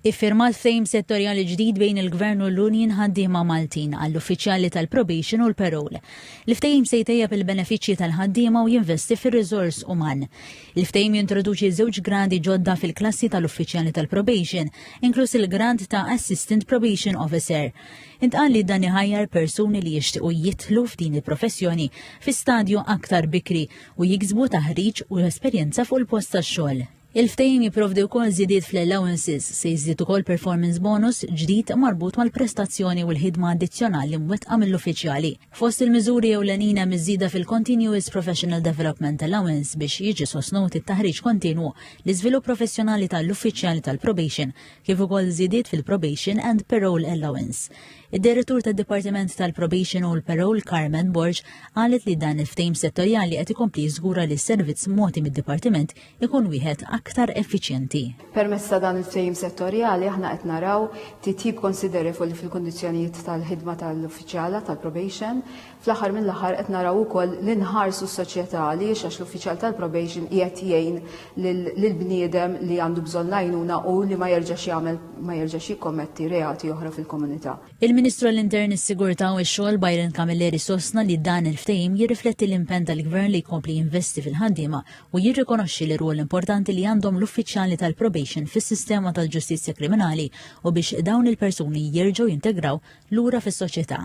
Iffirmat ftehim settorjali ġdid bejn il-Gvern u l-Union Ħaddiema Maltin għall-uffiċjali tal-probation u l-parole. Il-ftehim se jtejjeb il-benefiċċji tal-ħaddiema u jinvesti fir-riżors uman. Il-ftehim jintroduċi żewġ gradi ġodda fil-klassi tal-uffiċjali tal-probation, inkluż il-grad ta' Assistant Probation Officer. Intqal li dan iħajjar persuni li jixtiequ jidħlu f'din il-professjoni fi stadju aktar bikri u jiksbu taħriġ u esperjenza fuq il-post tax-xogħol. Il-ftehim jipprovdi wkoll żidiet fl-allowances, se jiżdied ukoll performance bonus ġdid marbut mal-prestazzjoni u l-ħidma addizzjonali mwettqa mill-uffiċjali. Fost il-miżuri ewlenin hemm iż-żieda fil-Continuous Professional Development Allowance biex jiġi sostnut it-taħriġ kontinwu, l-iżvilupp professjonali ta' l-uffiċjali tal-probation, kif ukoll żidiet fil-Probation and Parole Allowance. Id-Direttur tad-Dipartiment tal-Probation u l-Parole Carmen Borg qalet li dan il-ftehim settorjali qed ikompli jiżgura li s-servizz mogħti mid-Dipartiment ikun wieħed aktar effiċjenti. Permezz ta' dan il-ftehim settorjali aħna qed naraw titjib konsiderevoli fil-kundizzjonijiet tal-ħidma tal-uffiċjala tal-probation. Fl-aħħar mill-aħħar qed naraw ukoll li nħarsu s-soċjetà li għax l-uffiċjal tal-probation qiegħed jgħin lill-bniedem li għandu bżonn l-għajnuna u li ma jerġax jagħmel ma jerġax jikkommetti reati oħra fil-komunità. Il-Ministru għall-Intern, is-Sigurtà u x-Xogħol Byron Camilleri sostna li dan il-ftehim jirrifletti l-impenn tal-Gvern li jkompli jinvesti fil-ħaddiema u jirrikonoxxi l-irwol importanti li għandhom l-uffiċjali tal-probation fis-sistema tal-ġustizzja kriminali u biex dawn il-persuni jerġgħu jintegraw lura fis-soċjetà.